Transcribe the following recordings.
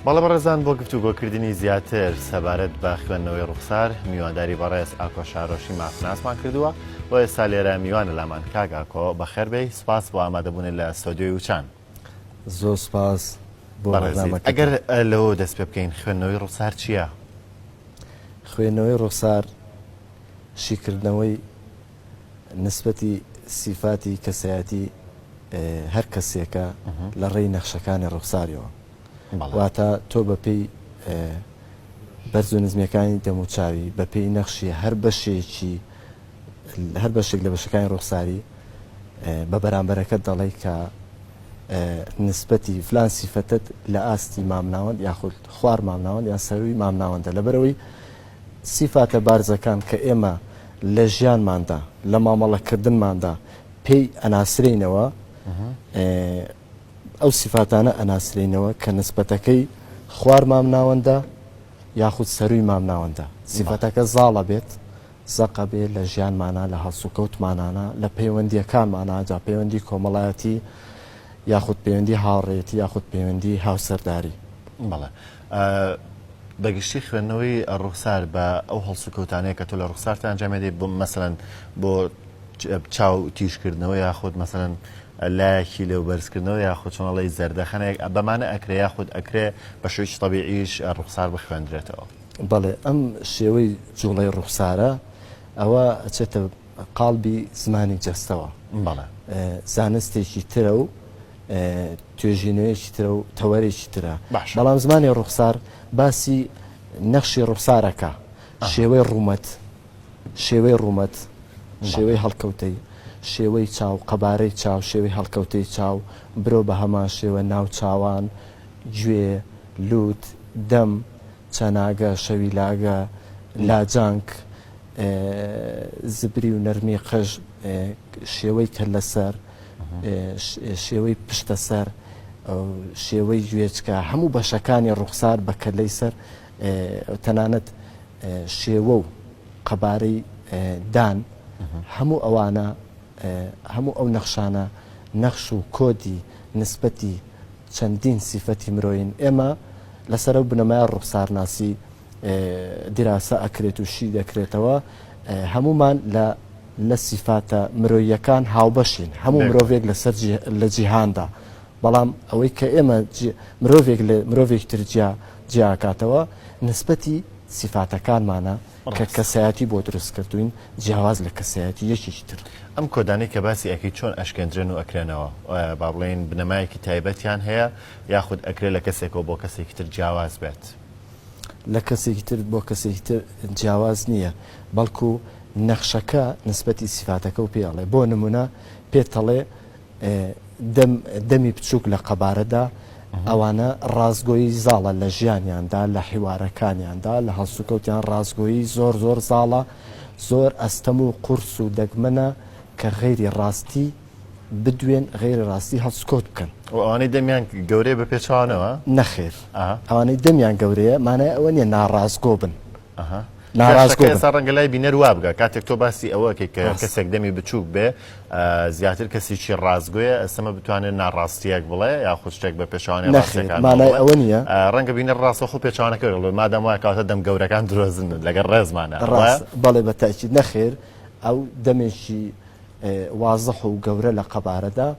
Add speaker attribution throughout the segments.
Speaker 1: بەڵێ بەڕێزان بۆ گفتوگۆکردنی زیاتر سەبارەت بە خوێندنەوەی ڕوخسار میوانداری بەڕێز ئاکۆ شارۆشی مافناسمان کردووە و ئێستا لێرە میوانە لامان کاک ئاکۆ بەخێربێی سپاس بۆ ئامادەبوونە لە سۆدیۆی وچان زۆر
Speaker 2: سپاس بۆ بەڕێزیت. ئەگەر لەوە
Speaker 1: دەست پێ بکەین خوێندنەوەی ڕوخسار چییە؟
Speaker 2: خوێندنەوەی ڕوخسار شیکردنەوەی نیسبەتی سیفاتی کەسایەتی هەر کەسێکە لە ڕێی نەخشەکانی ڕوخساریەوە واتە تۆ بە پێی بەرز و نزمەکانی دەموچوی بە پێی نەخشی هەر بەشێکی هەر بەشێک لە بەشەکانی ڕوخساری بە بەرامبەرەکە دەڵێ کە نسبەتی فلان سیفەتت لە ئاستی مامناوەند یاخود خوار مامناوەند یان سەروی مامناوەندە لەبەرەوەی سیفاتە بارزەکان کە ئێمە لە ژیانماندا، لە مامەڵەکردنماندا پێی ئەناسرێینەوە، ئەو سیفاتانە ئەناسرێینەوە کە نسبەتەکەی خوار مامناوەندە یاخود سەرووی مامناوەندە. سیفەتەکە زاڵە بێت، زەقە بێت لە ژیانمانا، لە هەڵسوکەوتمانانا، لە پەیوەندییەکانمانا، جا پەیوەندی کۆمەڵایەتی یاخود پەیوەندی هاوڕێیەتی یاخود پەیوەندی هاوسەرداری. بەڵێ.
Speaker 1: بە گشتی خوێندنەوەی ڕوخسار بە ئەو هەڵسوکەوتانەیە کە تۆ لە ڕوخسارتە ئەنجامێ دەی بۆ مەسەن بۆ چاو تیژکردنەوە یاخود مەسەن لایەکی لەو بەرزکردنەوە یاخود چۆنەڵی زەردەخەنێک بەمانە ئەکرێ یاخود ئەکرێ بە شوێکی طببیعیش ڕوخسار بخوێندرێتەوە بەڵێ ئەم
Speaker 2: شێوەی جوڵەی ڕوخسارە ئەوە ئەچێتە قاڵبی زمانی جەستەوە
Speaker 1: زانستێکی
Speaker 2: ترە و توێژینەوەیەکی ترە و تەوەرێکی ترە، بەڵام زمانی ڕوخسار باسی نەخشی ڕوخسارەکە، شێوەی ڕوومەت، شێوەی ڕوومەت، شێوەی هەڵکەوتەی، شێوەی چاو، قەبارەی چاو، شێوەی هەڵکەوتەی چاو، برۆ بە هەمان شێوە ناو چاوان، گوێ، لووت، دەم، چەناگە، شەویلاگە، لاجانک. زبری و نەرمی قژ، شێوەی کەللەسەر، شێوەی پشتە سەر، شێوەی گوێچکە، هەموو بەشەکانی ڕوخسار بە کەلەی سەر تەنانەت شێوە و قەبارەی دان هەموو ئەوانە هەموو ئەو نەخشانە نەخش و کۆدی نسبەتی چەندین سیفەتی مرۆین ئێمە لەسەر و بنەمای ڕوخسارناسی دیراسە ئەکرێت و شی دەکرێتەوە هەموومان لە لە سیفاتە مرۆیەکان هاوبەشین هەموو مرۆڤێک لەسەر لە جیهاندا بەڵام ئەوەی کە ئێمە مرۆڤێک لە مرۆڤێک ترجیا جیاکاتەوە نسبەتی سیفاتەکانمانە کە کەسایەتی بۆ دروست کردوین جیاواز لە کەسایەتی یەکێکی تر ئەم کۆدانی کە
Speaker 1: باسی ئەەکەی چۆن ئەشکێندرێن و ئەکرێنەوە با بڵێن بنەمایەکی تایبەتیان هەیە یاخود ئەکرێت لە کەسێکەوە بۆ کەسێکی تر جیاواز بێت. لە
Speaker 2: کەسێکی تر بۆ کەسێکی تر جیاواز نییە، بەڵکو نەخشەکە نسبەتی سیفاتەکە و پێ ئەڵێ، بۆ نمونە پێت ئەڵێ دەم دەمی بچووک لە قەبارەدا ئەوانە ڕاستگۆیی زاڵە لە ژیانیاندا لە حیوارەکانیاندا لە هەڵسوکەوتیان ڕاستگۆیی زۆر زۆر زاڵە زۆر ئەستەم و قورس و دەگمەنە کە غەیری ڕاستی بدوێن غیرە ڕاستی هەڵسکۆت بکەن و ئەوانەی دەمیان
Speaker 1: گەورەیە بە پێچوانەوە نەخێر
Speaker 2: ئەوانەی دەمیان گەورەیە مانای ئەوە نیە ناڕاستگۆ بن ناڕاستگەسا
Speaker 1: ڕەنگە لای بینەر وابگە کاتێک تۆ باسی ئەوە کە کەسێک دەمی بچووک بێ زیاتر کەسیی ڕاستگوێ ئەسەمە بتوانێت ناڕاستیەک بڵێ یا خوشتێک بە پێشوانێ مانای ئەوە نیە
Speaker 2: ڕەنگە بینە ڕاستە
Speaker 1: خۆ پێچوانەکە بڵێ مادەم وای کاتە دەم گەورەکان درۆزن لەگەر ڕێزمانە ڕاست بەڵێ بە
Speaker 2: تاچی نەخێر ئەو دەمێکی وازح و گەورە لە قەبارەدا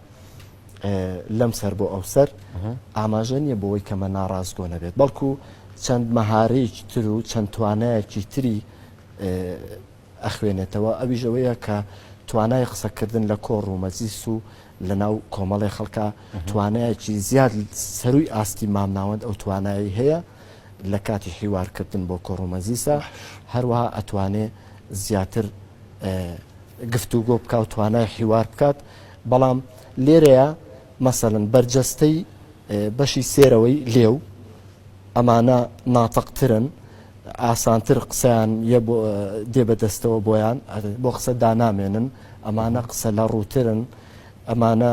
Speaker 2: لەم سەر بۆ ئەو سەر ئاماژە نییە بۆەوەی کەمە ناڕاستگۆ نەبێت بەڵکو چەند مەهارەیەکی تر و چەند توانایەکی تری ئەخوێنێتەوە ئەوی ژەوەیە کە توانای قسەکردن لە کۆڕ و مەزیس و لە ناو کۆمەڵی خەڵکە توانایەکی زیاد سەروی ئاستی مامناوەند ئەو توانایی هەیە لە کاتی حیوار کردن بۆ کۆڕ و مەجلیسا هەروەها ئەتوانێ زیاتر گفتوگۆ بکە و توانای حیوار بکات بەڵام لێرەیە مەسەن بەرجەستەی بەشی سێرەوەی لێو ئەمانە ناتەقترن ئاسانتر قسەیان یە بۆ دێ بەدەستەوە بۆیان بۆ قسە دانامێنن ئەمانە قسە لە ڕووترن ئەمانە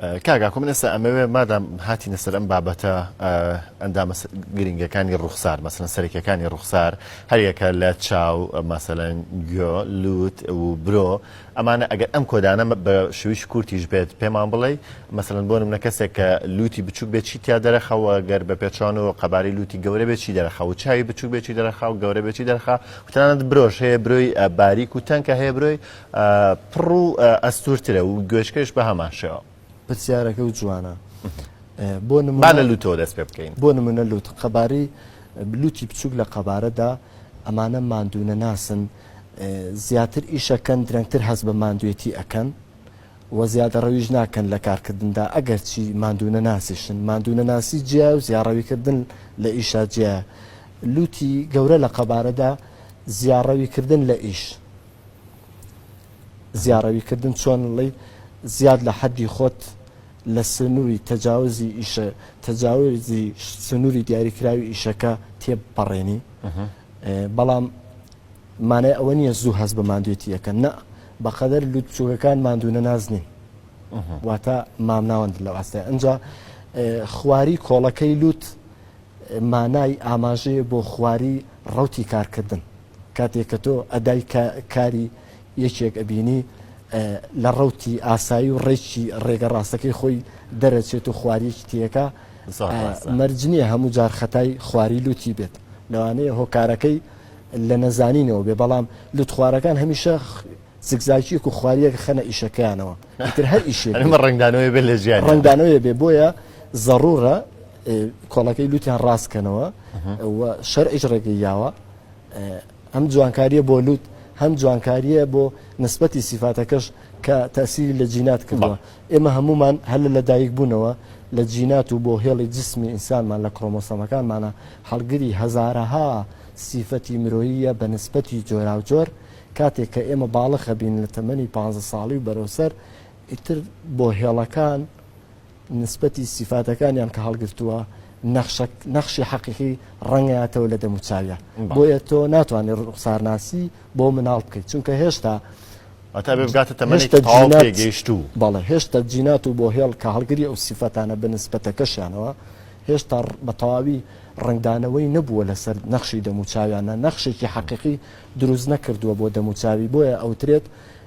Speaker 2: کاک ئاکۆ من
Speaker 1: ئێستا ئەمەوێ مادام هاتینە سەر ئەم بابەتە ئەندامە گرنگەکانی ڕوخسار مەسەن سەرەکیەکانی ڕوخسار هەریەکە لە چاو مەسەەن گۆ لوت و برۆ ئەمانە ئەگەر ئەم کۆدانە بە شویش کورتیش بێت پێمان بڵێ مەسەن بۆ منە کەسێک کە لوتی بچوک بێت چی تیا دەرەخەوە گەر بە پێچوان و قەباری لوتی گەورە بێت چی دەرەخە و چاوی بچوک بێتی دەرەخا و گەورە بێتی دەرخا وتانت برۆش هەیە برۆی باریک و تەنکە هەیە برۆی پڕ و ئەستوورترە و گوێچکەش بە هەمان شێوە. پرسیارەکە و
Speaker 2: جوانە بۆ
Speaker 1: نموونە با لە لووتەوە دەست پێ بکەین. بۆ نموونە لووت
Speaker 2: قەباری لووتی بچووک لە قەبارەدا ئەمانە ماندوونەناسن زیاتر ئیشەکەن درەنگتر هەست بە ماندوێتی ئەکەن و زیادەڕەویش ناکەن لە کارکردندا ئەگەر چی ماندوونەناسیشن ماندوونەناسی جیا و زیاڕەویکردن لە ئیشا جیا لووتی گەورە لە قەبارەدا زیاڕەویکردن لە ئیش زیاڕەوی کردن چۆن ڵی زیاد لە حەدی خۆت لە سنوری تەجاوزی ئیشە تەجاوزی سنوری دیاریکراوی ئیشەکە تێبپەڕێنی بەڵام مانای ئەوە نییە زوو هەست بە مادوێتی یەکە نە بەقەدەر لوت چووکەکان مادوونە نازنین واتە مامناوەند لە ئاستای ئەجا خواری کۆڵەکەی لوت مانای ئاماژەیە بۆ خواری ڕوتی کارکردن کاتێک کە تۆ ئەدای کاری یەکێک ئەبینی لە ڕەوتی ئاسایی و ڕێکی ڕێگە ڕاستەکەی خۆی دەرەچێت و خواریەکی تێکا مەرج نییە هەموو جار خەتای خواری لوتی بێت لەوانەیە هۆکارەکەی لە نەزانینەوە بێ بەڵام لوت خوارەکان هەمیشە زگزاکیەک و خواریەک خەنە ئیشەکەیانەوە تر هەر ئیشێ ڕنگدانەوەی بێ لە
Speaker 1: ژیان ڕنگدانەوەی بێ بۆیە
Speaker 2: ضرورە کۆڵەکەی لوتیان ڕاستکەنەوە شەرعیش ڕێگەی یاوە ئەم جوانکاریە بۆ لوت هەم جوانکاریە بۆ نسبەتی سیفاتەکەش کە تاسیری لە جینات کردوە ئێمە هەمومان هەل لە دایک بوونەوە لە جینات و بۆ هێڵی جسمی ئینسانمان لە کڕۆمۆسەمەکانمانە هەڵگری هەزارەها سیفەتی مرۆییە بە نسبەتی جۆراوجۆر کاتێک کە ئێمە باڵەخە بین لە تەمەنی پ ساڵی و بەرەوسەر ئیتر بۆ هێڵەکان نسبەتی سیفاتەکانیان کە هەڵگرتووە نەخشە نەخشی حەقیقی ڕەنگاتەوە لە دەموچاویە بۆیە تۆ ناتوانێت ڕوخسارناسی بۆ مناڵ بکەیت چونکە هێشتا ئەتا بێبگاتە تەمەشتە گەیشت و بەڵێ هێشتا جینات و بۆ هێڵ کە هەڵگری ئەو سیفەتانە بە نسبەتەکەشیانەوە هێشتا بە تەواوی ڕنگدانەوەی نەبووە لەسەر نەخشی دەموچاویانە نەخشێکی حەقیقی دروست نەکردووە بۆ دەموچاوی بۆیە ئەوترێت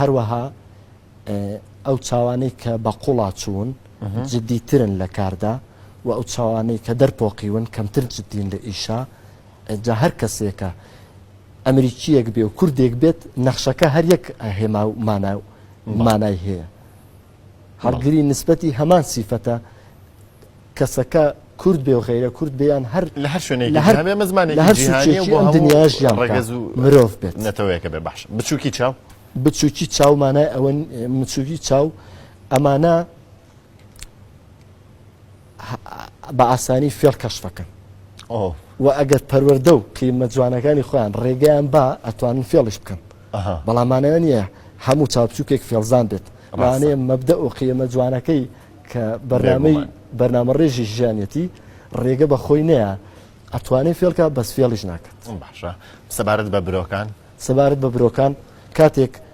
Speaker 2: هەروەها ئەو چاوانەی کە بە قوڵاچوون جددی ترن لە کاردا و ئەو چاوانەی کە دەرپۆقیون کەمتر جددین لە ئیشا جا هەر کەسێکە ئەمریکیەک بێ و کوردێک بێت نەخشەکە هەر یەک هێما و مانا و مانای هەیە. هەڵگری نسبەتی هەمان سیفەتە کەسەکە کورد بێ و غیرە کورد بێیان هەر لە هەر شوێنێک لە هەر بێ
Speaker 1: مەزمانێکی لە هەر جیهانیە و سوچێکی بۆ ئەم هەموو دنیاش
Speaker 2: یان ڕەگەز و مرۆڤ بێت نەتەوەیەکە بێ بەخش
Speaker 1: بچووکی چاو بچووکی چاو
Speaker 2: مانای ئەوە بچووکی چاو ئەمانە بە ئاسانی فێڵ کەشف ئەکەن و ئەگەر پەروەەردە و قیمە جوانەکانی خۆیان ڕێگەیان با ئەتوانن فێڵش بکەن بەڵامانەوە نیە هەموو چاوچووکێک فێڵزان بێت ڕانەیە مەبدە و قیمە جوانەکەی کە بەرنامەی بەرنامە ڕێژی ژیانەتی ڕێگە بە خۆی نەیە ئەتوانێت فێڵکە بەس فێڵیش ناکات باشە
Speaker 1: سەبارەت بە برۆکان سەبارەت بە برۆکان
Speaker 2: کاتێک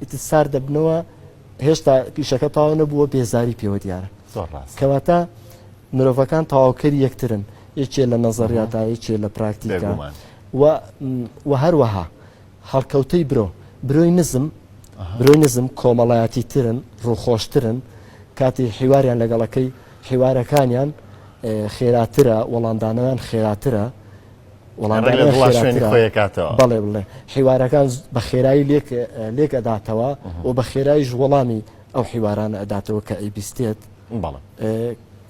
Speaker 2: ئیتر سارد دەبنەوە هێشتا ئیشەکە تەواو نەبووە بێزاری پێوە دیارە زۆر ڕاست کەواتە مرۆڤەکان تەواوکەری یەکترن یەکێ لە نەزەڕیاتا یەکێ لە پراکتیکە بێگومان و و هەروەها هەڵکەوتەی برۆ برۆی نزم برۆی نزم کۆمەڵایەتی ترن ڕووخۆشترن کاتی حیواریان لەگەڵەکەی حیوارەکانیان ئێ، خێراترە وەڵامدانەوەیان خێراترە بەڵێ بڵێ حیوارەکان بە خێرایی لێک لێک ئەداتەوە و بە خێرایش وەڵامی ئەو حیواران ئەداتەوە کە ئەیبیستێت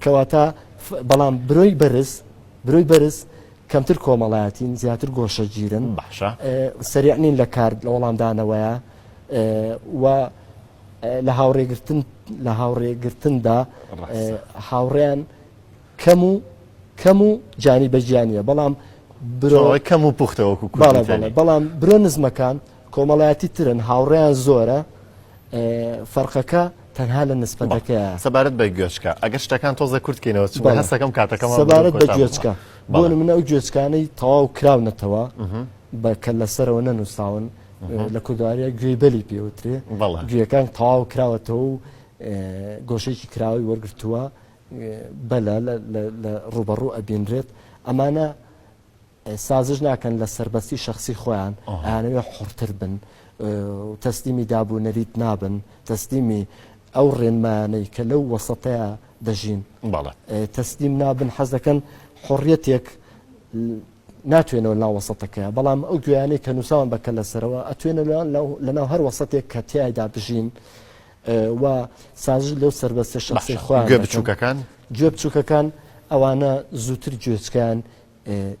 Speaker 2: کەواتە بەڵام برۆی بەرز برۆی بەرز کەمتر کۆمەڵایەتین زیاتر گۆشەگیرن باشە سەرعنین لە کار لە وەڵامدانەوەیە و لە هاوڕێگرتن لە هاوڕێگرتندا هاوڕێیان کەم و کەم و جانی بە جیانە بەڵام برۆ کەم
Speaker 1: و پوختە وەکو کوردەڵێ بەڵام
Speaker 2: برۆ نزمەکان کۆمەڵایەتی ترن هاوڕێیان زۆرە فەرقەکە تەنها لە نسبەتەکە سەبارەت بە گوێچکە
Speaker 1: ئەگەر شتەکان تۆزە کورتکەینەوە چ هەستەکەم کاتەکەم سەبارەت بە گوێچکە
Speaker 2: بۆ منە ئەو گوێچکانەی تەواو کراونەتەوە بە کە لەسەرەوە نەنووساون لە کوردواریە گوێی بەلی پێوترێ گوێەکان تەواو کراوەتەوە و گۆشێکی کراوی وەرگتووە بەلە لە ڕوبەڕوو ئەبینرێت ئەمانە سازش ناکەن لە سربەستی شخصی خۆیان ئەیانەوێ حڕتر بن تەسلیمی داب و نەریت نابن تەسلیمی ئەو ڕێنمایانەی کە لەو وەسەتەیە دەژین تەسلیم نابن حەز دەکەن حڕەتێک ناتوێنەوە ناو وەسەتەکەیە بەڵام ئەو گویانەی کە نووسان بەکە لەسەرەوە ئەتوێنە لە ناو هەر وەسەتێک کە تایدا بژین و سازش لەو سەربەستە شەخسەی خۆیان گوێ بچووکەکان دەکەن. گوێ بچووکەکان ئەوانە زووتر گوێچکەیان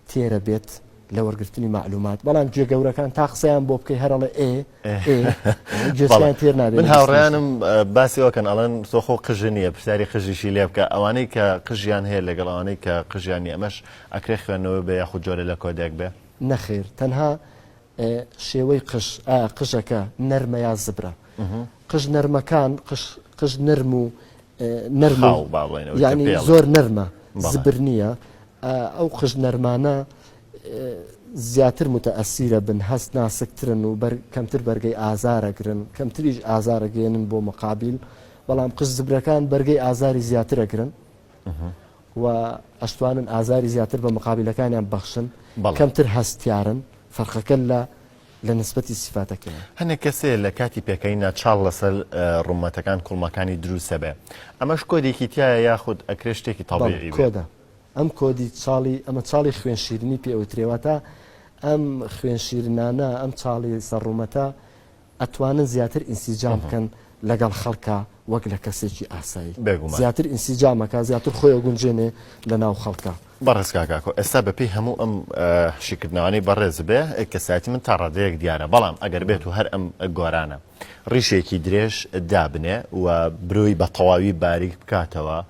Speaker 2: تێرە بێت لە وەرگرتنی معلومات بەڵام گوێ گەورەکان تا قسەیان بۆ بکەی هەرڵێ ئێ ئێ گوێچکەیان بەڵێ. تێر نابێت من لە بیست مێشک. هاوڕیانم
Speaker 1: باسی ئەوکەن ئەڵەن تۆ خۆ قژە نییە پرسیاری قژیشی لێ بکە ئەوانەی کە قژیان هەیە لەگەڵ ئەوانەی کە قژیان نییە ئەمەش ئەکرێ خوێندنەوەی بە یاخود جۆرە لە کۆدێک بێ نەخێر تەنها
Speaker 2: شێوەی قژ، ئایا قژەکە نەرمە یا زبرە؟ قژ نەرمەکان، قژ نەرم و نەرم و یانی زۆر نەرمە زبر نییە، ئەو قژ نەرمانە زیاتر متەئەسیرە بن، هەست ناسکترن و کەمتر بەرگەی ئازارەگرن، کەمتریش ئازارەگەیەنن بۆ مقابیل، بەڵام قژ زبرەکان بەرگەی ئازاری زیاترەگرن. و ئەشتوانن ئازاری زیاتر بە مقابلەکانیان ببەخشن کەمتر هەستیارن فەرقەکە لە لە نسبەتی سیفاتەکەیە هەنێک کەسێ لە
Speaker 1: کاتی پێکەنیندا چاڵ لەسەر ڕوومەتەکان کوڵمەکانی دروستە بێ ئەمەش کۆدێکی تایە یاخود ئەکرێ شتێکی تەڵێ کۆدە ئەم
Speaker 2: کۆدی چاڵی ئەمە چاڵی خوێن شیرنی پێوترێواتە ئەم خوێن شیرنانە ئەم چاڵی سەر ڕوومەتە ئەتوانن زیاتر ئینسیجام بکەن لەگەڵ خەڵکا وەک لە کەسێکی ئاسایی بێگومان. زیاتر ئینسیجام ئەکا زیاتر خۆی ئەگونجێنێ لە ناو خەڵکا. بەڕێز کاک ئاکۆ
Speaker 1: ئێستا بەپێی هەموو ئەم شیکردنەوانەی بەڕێز بێ کەسایەتی من تا ڕادەیەک دیارە بەڵام ئەگەر بێت و هەر ئەم گۆرانە ڕیشێکی درێژ دابنێ و برۆی بە تەواوی باریک بکاتەوە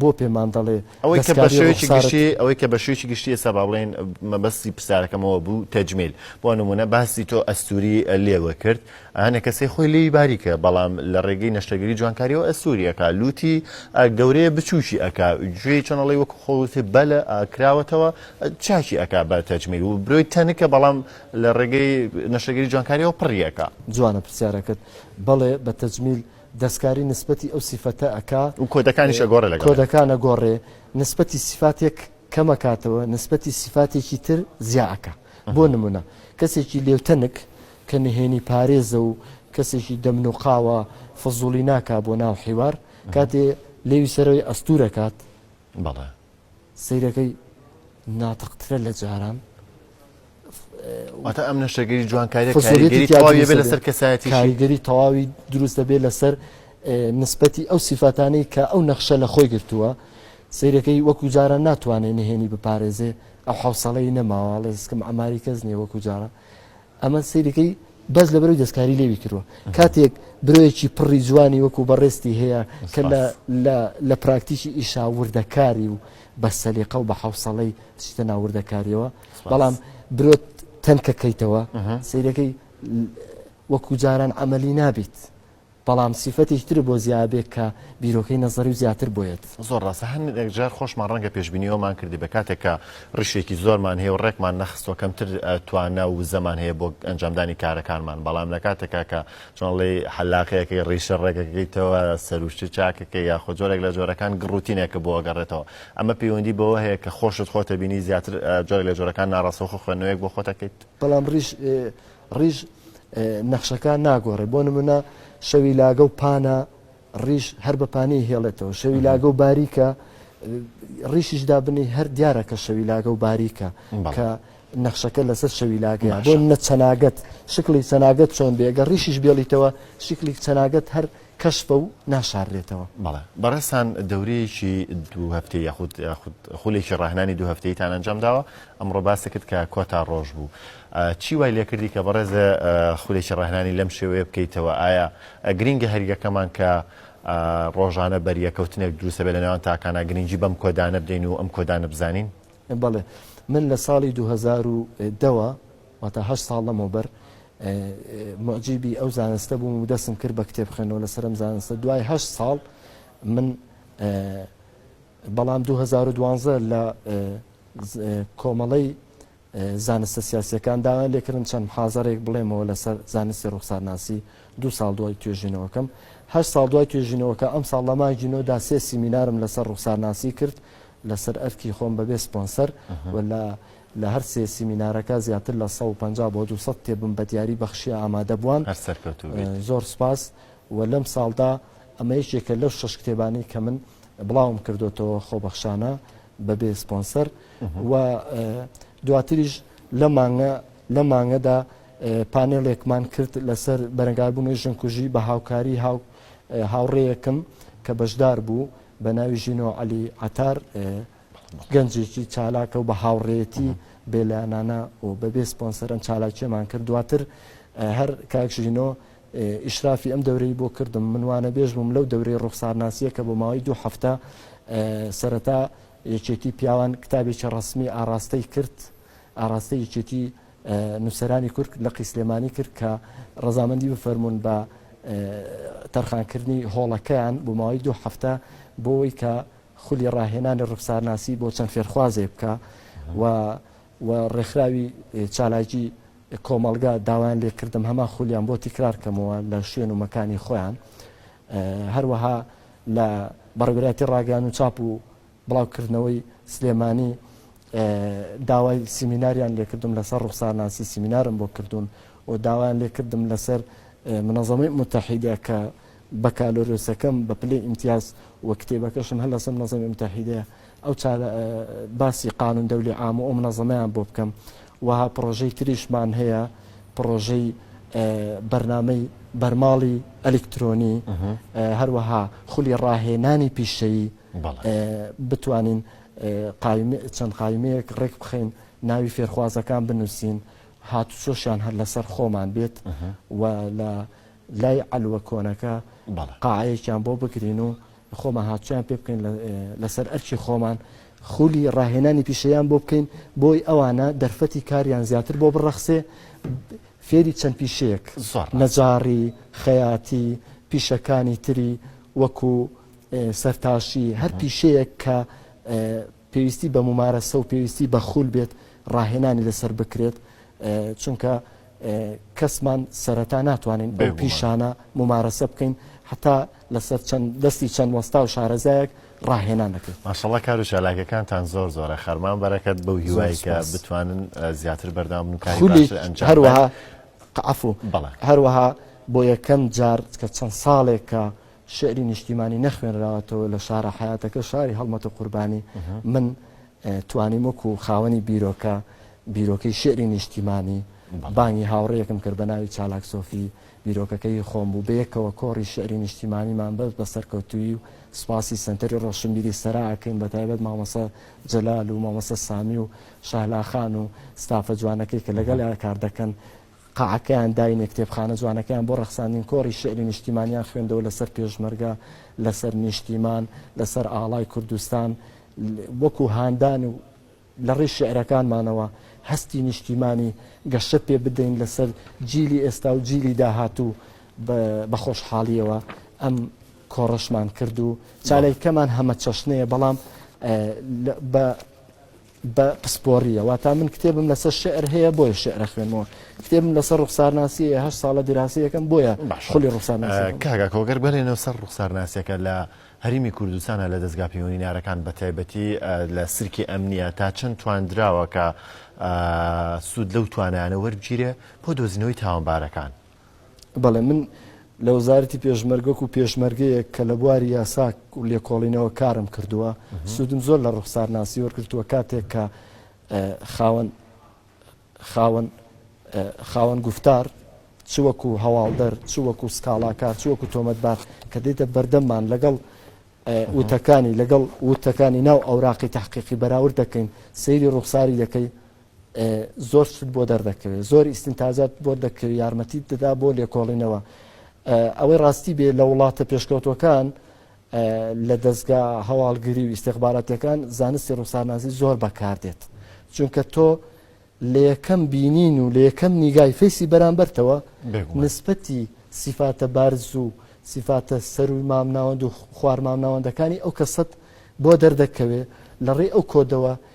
Speaker 2: بۆ پێمان دەڵێ ئەوەی کە بەشێوەیەکی گشتی
Speaker 1: ئەوەی کە بەشێوەیەکی گشتی ئێستا با بڵێن مەبەستی پرسیارەکەمەوە بوو تەجمیل بۆ نمونە باسی تۆ ئەستوری لێوە کرد ئەنە کەسەی خۆی لێی باریکە بەڵام لە ڕێگەی نەشتەگەری جوانکاریەوە ئەسووریەکە لوتی گەورەیە بچووکی ئەک گوێی چۆنەڵی وەک خۆوتی بەلە کراوەتەوە چاکی ئەک بە تەجمیل و برۆی تەنکە بەڵام لە ڕێگەی نەشتەگەری جوانکاریەوە پڕیەکە جوانە پرسیارەکەت
Speaker 2: بەڵێ بە تەجمیل دەستکاری نسبەتی ئەو سیفەتە ئەکا. و کۆدەکانیش ئەگۆڕێ
Speaker 1: لەگەڵ. کۆدەکان ئەگۆڕێ.
Speaker 2: نسبەتی سیفاتێک کەم ئەکاتەوە، نسبەتی سیفاتێکی تر زیا ئەکا. بۆ نموونە، کەسێکی لێوتەنک کە نهێنی پارێزە و کەسێکی دەمنوقاوە، فزوڵی ناکا بۆ ناو حیوار، کاتێ لێوی سەرەوەی ئەستوور ئەکات، بەڵێ.
Speaker 1: سەیرەکەی
Speaker 2: ناتق ترە لە جاران.
Speaker 1: واتە ئەم نەشتەگەری جوانکاریە کاریگەری تەواوی بێ لەسەر کەسایەتی کاریگەری تەواوی
Speaker 2: دروست دەبێت لەسەر نسبەتی ئەو سیفاتانەی کە ئەو نەخشە لە خۆی گرتووە سیرەکەی وەکو جاران ناتوانێت نهێنی بپارێزێ ئەو حوسڵەی نەماواڵێ سکم ئەماری کەس نیە وەکو جاران ئەمە سەیرەکەی بەس لەبەرەوەی دەستکاری لێوی کردووە کاتێک برۆیەکی پڕی جوانی وەکو بەڕێستی هەیە کە لە پراکتیکی ئیشا وردەکاری و بە سەلیقە و بە حوسەڵەی چیتە ناوردەکاریەوە بەڵام برۆت تەنکەکەیتەوە سیرەکەی وەکو جاران ئەمەلی نابیت بەڵام سیفەتێکی ترە بۆ زیابێک کە بیرۆکەی نەزەری و زیاتر بۆیەت. زۆر ڕاستە هە نێک
Speaker 1: جار خۆشمان ڕەنگە پێشبینی ئەومان کردبێ کاتێک کە ڕیشێکی زۆرمان هەیە و ڕێکمان نەخستوە کەمتر توانا و وزەمان هەیە بۆ ئەنجامدانی کارەکانمان بەڵام لە کاتێکا کە چۆنڵی حەلاقەیەکەی ڕیشە ڕێگەکەیتەوە سەروشتی چاکەکە یاخۆ جۆرێک لە جۆرەکان گڕوتینێکە بۆ گەڕێتەوە ئەمە پەیوەندی بەوە هەیە کە خۆشت خۆتە بینی زیاتر جۆرە لە جۆرەکان ناڕاستەوخۆ خوێندنەوەیەک بۆ خۆتەکەیت بەڵام ڕیش
Speaker 2: ڕیش نەخشەکان ناگۆڕێ بۆ نمونە شەوی لاگە و پانە ڕیش هەر بە پانی هێڵێتەوە شەوی لاگە و باریکە ڕیشیش دابنی هەر دیارە کە شەوی لاگە و باریکە کە نەخشەکە لەسەر شەوی لاگە بۆ نە چەناگەت شکلی چەناگەت چۆن بێگە ڕیشیش بێڵیتەوە شکلی چەناگەت هەر کەشفە و ناشاررێتەوە. بەڵێ بەڕێزتان
Speaker 1: دەورەیەکی دوو هەفتەی یاخود یاخود خولێکی ڕاهێنانی دوو هەفتەییتان ئەنجام داوە، ئەمڕۆ باست کرد کە کۆتا ڕۆژ بوو. چی وای لێ کردی کە بەڕێزە خولێکی ڕاهێنانی لەم شێوەیە بکەیتەوە؟ ئایا گرینگە هەر یەکەمان کە ڕۆژانە بەریەکەوتنێک دروست دەبێت لە نێوان تاکانە، گرینگی بەم کۆدانە بدەین و ئەم کۆدانە بزانین؟ بەڵێ
Speaker 2: من لە ساڵی دوو هەزار و دە وە واتا هەشت ساڵ لەمەوبەر موعجیبی ئەو زانستە بووم و دەستم کرد بە کتێبخوێنەوە لەسەر ئەم زانستە، دوای هەشت ساڵ من بەڵام دوو هەزار و دوانزە لە کۆمەڵەی زانستە سیاسیەکان داوایان لێکردم چەند محازەرێک بڵێمەوە لەسەر زانستی ڕوخسارناسی دو ساڵ دوای توێژینەوەکەم هە ساڵ دوای توێژینەوەکە ئەم ساڵ لە مانگی نۆدا سێ سیمینارم لەسەر ڕوخسارناسی کرد لەسەر ئەرکی خۆم بەبێ سپۆنسەر و لە لە هەر سێ سیمینارەکە زیاتر لە سەد و پەنجا بۆ دوو سەد کتێبم بە دیاری بەخشیە ئامادە بووان. هەر سەرکەوتوو بیت. زۆر سوپاس و لەم ساڵدا ئەمە یەکێکە لەو شەش کتێبانەی کە من بڵاوم کردۆتەوە خۆبەخشانە بە بێ سپۆنسەر و دواتریش لەم مانگە لەم مانگەدا پانێڵێکمان کرد لەسەر بەرەنگاربوونەوەی ژنکوژی بە هاوکاری هاو هاوڕێیەکم کە بەشدار بوو بە ناوی ژینۆ عەلی عەتار گەنجێکی چالاکە و بە هاوڕێتی بێلایەنانە و بەبێ سپۆنسەرم چالاکیەمان کرد دواتر هەر کاکشینۆ ئیشرافی ئەم دەورەی بۆ کردم منوانە بێژ بووم لەو دەورەی ڕوخسارناسیە کە بۆ ماوەی دوو هەفتە سەرەتا یەکێتی پیاوان کتابێکی ڕسمی ئاراستەی کرد ئاراستە یەکێتی نووسرانی کورد لە قیسلێمانی کرد کە ڕزامەندی بفەرمونون بە تەرخانکردنی هۆڵەکەیان بۆ ماوەی دوو هەفتە بۆی کە خولی ڕاهێنانی ڕوخسارناسی بۆ چەند فێرخوازێک بکا و و ڕێکخراوی چالاکی کۆمەڵگا داوایان لێ کردم هەمان خولیان بۆ تیکرار کەمەوە لە شوێن و مەکانی خۆیان هەروەها لە بەڕێوراتی ڕاگەیان و چاپ و بڵاوکردنەوەی سلێمانی داوای سیمیناریان لێکردم لەسەر ڕوخسارناسی سیمینارم بۆ کردوون و داوایان لێکردم لەسەر منەظەمەی متحیدە کە بەکالۆرێوسەکەم بە پلەی ئیمتیاز و کتێبەکەشم هەر لەسەر منەزەمی موتەحیدەیە ئەو چارە باسی قانون دەولی عام و ئەو منەزەمەیان بۆ بکەم وەها پڕۆژەی تریشمان هەیە پڕۆژەی بەرنامەی بەرماڵی ئەلکترۆنی هەروەها خولی ڕاهێنانی پیشەیی بتوانین چەند قایمەیەک ڕێک بخەین ناوی فێرخوازەکان بنووسین هاتوچۆشیان هەر لەسەر خۆمان بێت و لە لای عەلوە کۆنەکە بەڵێ. قاعەیەکیان بۆ بگرین و خۆمان هاتوویان پێ بکەین لە لەسەر ئەرکی خۆمان خولی ڕاهێنانی پیشەیان بۆ بکەین بۆی ئەوانە دەرفەتی کاریان زیاتر بۆ بڕەخسێ فێری چەند پیشەیەک زۆر ڕاست. نەجاڕی خەیاتی پیشەکانی تری وەکو ئێ سەرتاشی هەر پیشەیەک کە ئێ پێویستی بە مومارەسە و پێویستی بە خول بێت ڕاهێنانی لەسەر بکرێت چونکە کەسمان سەرەتا ناتوانین بەو پیشانە مومارەسە بکەین هەتا لەسەر چەند دەستی چەند وەستا و شارەزایەک ڕاهێنان دەکەین ماشەڵڵا کار و
Speaker 1: چالاکەکانتان زۆر زۆرە خەرمان بەرەکەت بەو هیوای کە بتوانن زیاتر بەردەوام بن کاری باشتر ئەنجام هەروەها
Speaker 2: عەفو بەڵێ هەروەها بۆ یەکەم جار کە چەند ساڵێکە شیعری نیشتیمانی نەخوێنراوەتەوە لە شارە حەیاتەکە شاری هەڵمەت و قوربانی من توانیم وەکو خاوەنی بیرۆکە بیرۆکەی شیعری نیشتیمانی بانگی هاوڕێیەکم کرد بە ناوی چالاک سۆفی بیرۆکەکەی خۆم بوو بەیەکەوە کۆڕی شعری نیشتیمانیمان بەس بە سەرکەوتویی و سپاسی سنتەری ڕۆشنبیری سەراکەین بە تایبەت مامەسە جەلال و مامەسە سامی و شاهلاخان و ستافە جوانەکەی کە لەگەڵ کار دەکەن قاعەکەیان داینێ کتێبخانە جوانەکەیان بۆ ڕەخساندین کۆڕی شیعری نیشتیمانیان خوێندەوە لەسەر پێشمەرگە لەسەر نیشتیمان لەسەر ئاڵای کوردستان وەکو هاندان و لە ڕێی شعرەکانمانەوە هەستی نیشتیمانی گەشە پێ بدەین لەسەر جیلی ئێستا و جیلی داهاتوو بە خۆشحاڵیەوە ئەم کۆڕەشمان کرد و چاالەکەمان هەمە چەشنەیە بەڵام بە بە پسپۆڕییە واتا من کتێبم لەسەر شعر هەیە بۆیە شعرە خوێنمەوە کتێبم لەسەر ڕوخسارناسی هەیە هەشت ساڵە دیراسەیەکەم بۆیە باش خولی ڕوخسارناسی ئە، کاگا کۆگەر بەلێنەوە
Speaker 1: سەر ڕوخسارناسیەکە لە هەریمی کوردستانە لە دەزگا پەیوەنینارەکان بە تایبەتی لە سلکی ئەمنیە تا چەند تواندراوە کە سود لەو توانایانە وەربگیرێ بۆ دۆزینەوەی تاوانبارەکان؟ بەڵێ
Speaker 2: من لە وەزارەتی پێشمەرگە وەکو پێشمەرگەیەک کە لە بواری یاساک و لێکۆڵینەوە کارم کردووە سوودم زۆر لە ڕوخسارناسی وەرگتووە کاتێک کە خاوەن خاوەن خاوەن گفتار چ وەکو هەواڵدەر چ وەکو سکاڵاکار چ وەکو تۆمەتبار کە دێتە بەردەممان لەگەڵ وتەکانی لەگەڵ وتەکانی ناو ئەوراقی تحقیقی بەراورد دەکەین سەیری ڕوخساری دەکەی زۆر شت بۆ دەردەکەوێت زۆر ئیسنتاجات بۆ دەکەوێت یارمەتی دەدا بۆ لێکۆڵینەوە ئەوەی ڕاستی بێ لە وڵاتە پێشکەوتەکان لە دەستگا هەواڵگری و ئیسێخباراتەکان زانستی ڕووسانازی زۆر بەکاردێت چونکە تۆ لە یەکەم بینین و لە یەکەم نیگای فەیسی بەرامبەرتەوە نسبەتی سیفاتە بارز و سیفاتە سەروی مامناوەند و خوار مامناوەندەکانی ئەو کەسەت بۆ دەردەکەوێ لە ڕێ ئەو کۆدەوە